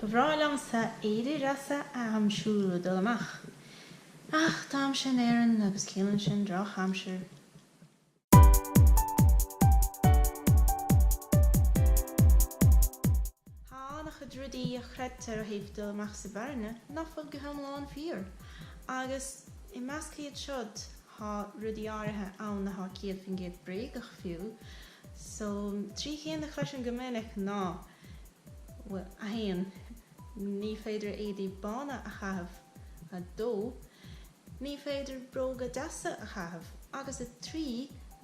Ba bhreá liomsa éadaí deasa a aimsiú le dul amach, ach táimse in Éirinn agus ciallaíonn sin drochaimsir. Tá an-chuid rudaí a chreidtear ó thaobh dul amach sa bhfearthainne nach bhfuil go hiomlán fíor, agus i measc iad siúd, Tá rudaí áirithe ann atá céad faoin gcéad bréagach fiú. So, trí cheann a chloisim go minic ná, bhuel, a haon, ní féidir éadaí bána a chaitheamh, a dó, ní féidir bróga deasa a chaitheamh, agus a trí,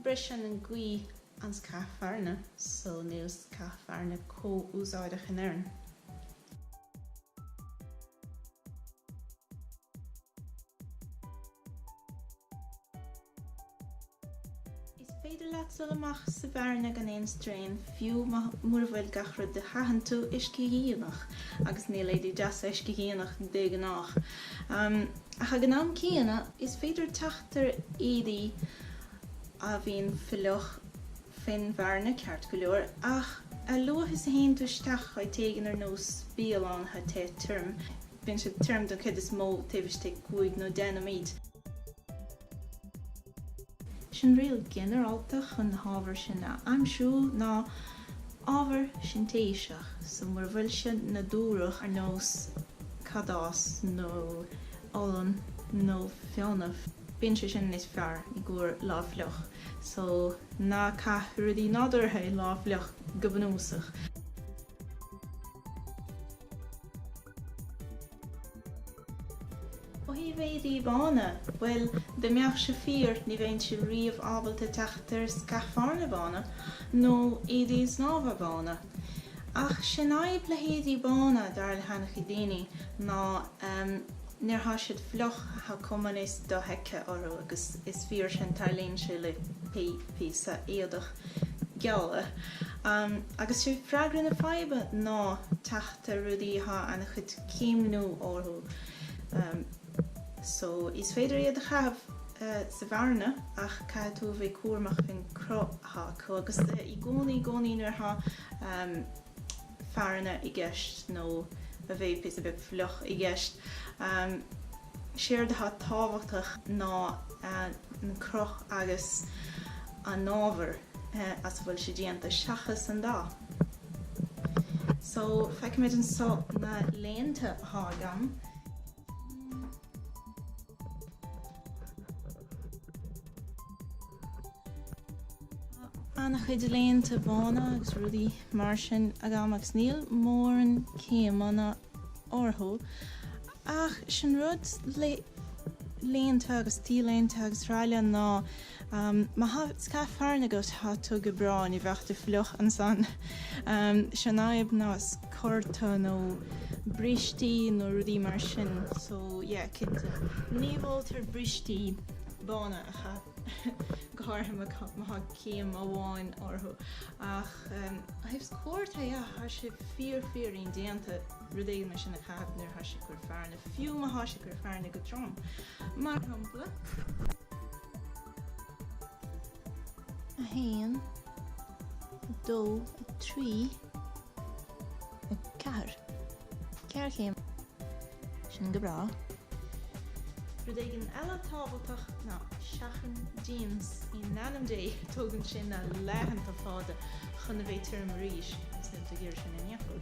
briseann an gaoth an scáth fearthainne, so níl scáth fearthainne comh úsáideach in Éirinn. Is féidir leat dul amach sa bhfearthainne gan aon straein, fiú mura bhfuil gach rud a chaitheann tú uiscedhíonach, agus níl éadaí deasa uiscedhíonach de ghnáth. Ach ag an am céanna, is féidir teacht ar éadaí a bhíonn fliuch. faoin bhfearthainne ceart go leor, ach a luaithe is a théann tú isteach áit éigin ar nós bialann atá te tirim, bíonn siad tirim den chuid is mó taobh istigh cúig nó deich nóiméid. Sé'n riail ghinearálta chun na hábhair sin a aimsiú ná ábhar sintéiseach, so mura bhfuil sé nádúrach ar nós cadás nó olann nó fionnadh, bíonn sé sin níos fearr i gcomhair lá fliuch. So, ná caith rudaí nádúrtha i lá fliuch, go bunúsach. Ó thaobh éadaí bána, bhuel, dá mbeadh sé fíor, ní bheinnse riamh ábalta teacht ar scáth fearthainne bána nó éadaí snámha bána. Ach sé'n fhadhb le héadaí bána, dar le hana-chuid daoine, ná, Nuair athá siad fliuch, thá cuma níos dofheicthe orthu agus is fíor sin, tarlaíonn sé le píosa éadach geala. Agus sé freagra na faidhbe ná teacht ar rudaí athá ana-chuid céimniú orthu. So, is féidir iad a chaitheamh sa bhfearthainne ach caithfidh tú a bheith cúramach faoin cruth athá acu agus i gcónaí, i gcónaí nuair athá. fearthainne i gceist nó a bheith píosa beag fliuch i gceist. Séard atá tábhachtach ná an cruth agus an ábhar as a bhfuil sé déanta seachas an dath. So, feicimid anseo na léinte atá agam. an-chuid léinte bána agus rudaí mar sin agam agus níl mórán céimeanna orthu ach sin rud le léinte agus t-léinte agus really ná Má thá scáth fearthainne agat thá tú go breá, ní bheadh tú fliuch ansan. Sé'n fhadhb ná sciorta nó brístí nó rudaí mar sin, so yeah cinnte. Ní mholtar brístí bána a chaitheamh, go háirithe má thá céim amháin orthu. Ach ó thaobh sciortaí, thá sé fíor fíor indéanta rud éigin mar sin a chaitheamh nuair thá sé ag cur fearthainne. Fiú má thá sé ag cur fearthainne go trom, mar shampla. 1 2 3 4 Ceathair chéim. Sin go breá. Rud éigin eile tábhachtach ná seachain jeans. In ainm Dé, tógann sé na laethanta fada chun a bheith tirim arís, agus níl tú ag iarraidh sin ar aon chor.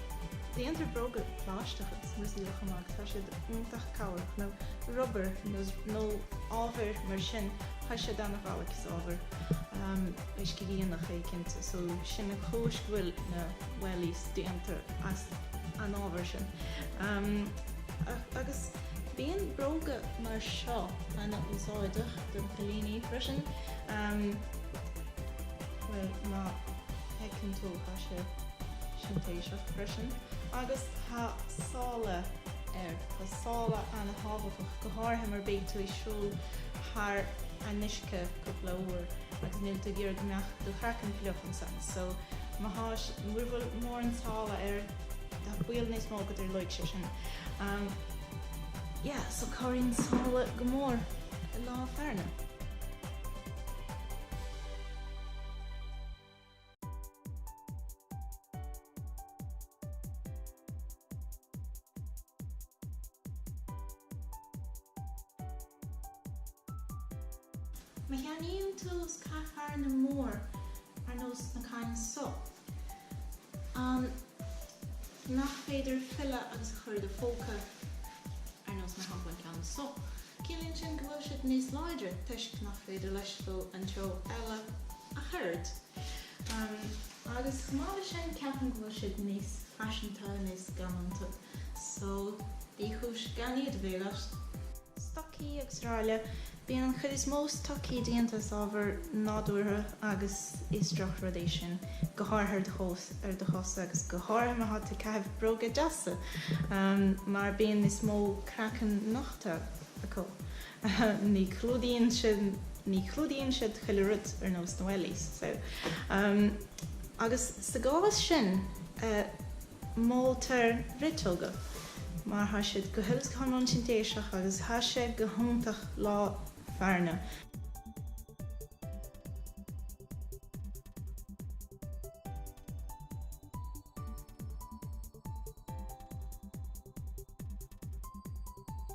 Déantar bróga plaisteacha is muesliacha mar tá siad iontach cabhrach, nó rubair nó ábhair mar sin, tá siad an-ghalair is ábhair uiscedhíonach éicint so sin an chúis go bhfuil na wellies déanta as an ábhar sin. Agus bíonn bróga mar seo an-úsáideach do na cailíní freisin, bhuel má fheiceann tú, tá sé. sintéiseach freisin agus tá sála air. Tá sála an-tábhachtach, go háirithe mar beidh tú ag siúl thar an uisce cúpla uair agus níl tú ag iarraidh go mbeadh do chraiceann fliuch ansan. So má tá, mura bhfuil mórán sála air, tá baol níos mó go dtarlóidh sé sin. Umm yeah, so cabhraíonn sála go mór i lá fearthainne. Má cheannaíonn tú scáth fearthainne mór ar nós na cinn so, an nach féidir filleadh agus a chur i do phóca, ar nós mar shampla an ceann so? Ciallaíonn sin go bhfuil siad níos láidre toisc nach féidir leis dul an treo eile. a throid. Agus chomh maith leis sin, ceapaim go bhfuil siad níos faiseanta, níos galánta. So, níl cúis gan iad a bheith agat. Stocaí srl. Bíonn an chuid is mó stocaí déanta as ábhair nádúrtha agus is droch rud é sin, go háirithe ar do chosa agus go háirithe má tá tú ag caitheamh bróga deasa mar bíonn níos mó craiceann nochta acu. ní chlúdaíonn siad ní chlúdaíonn siad chuile rud ar nós na wellies so um, agus sa gcás sin uh, moltar riteoga mar tá siad go huile is go hiomlán sintéiseach agus tá sé go hiontach lá fearna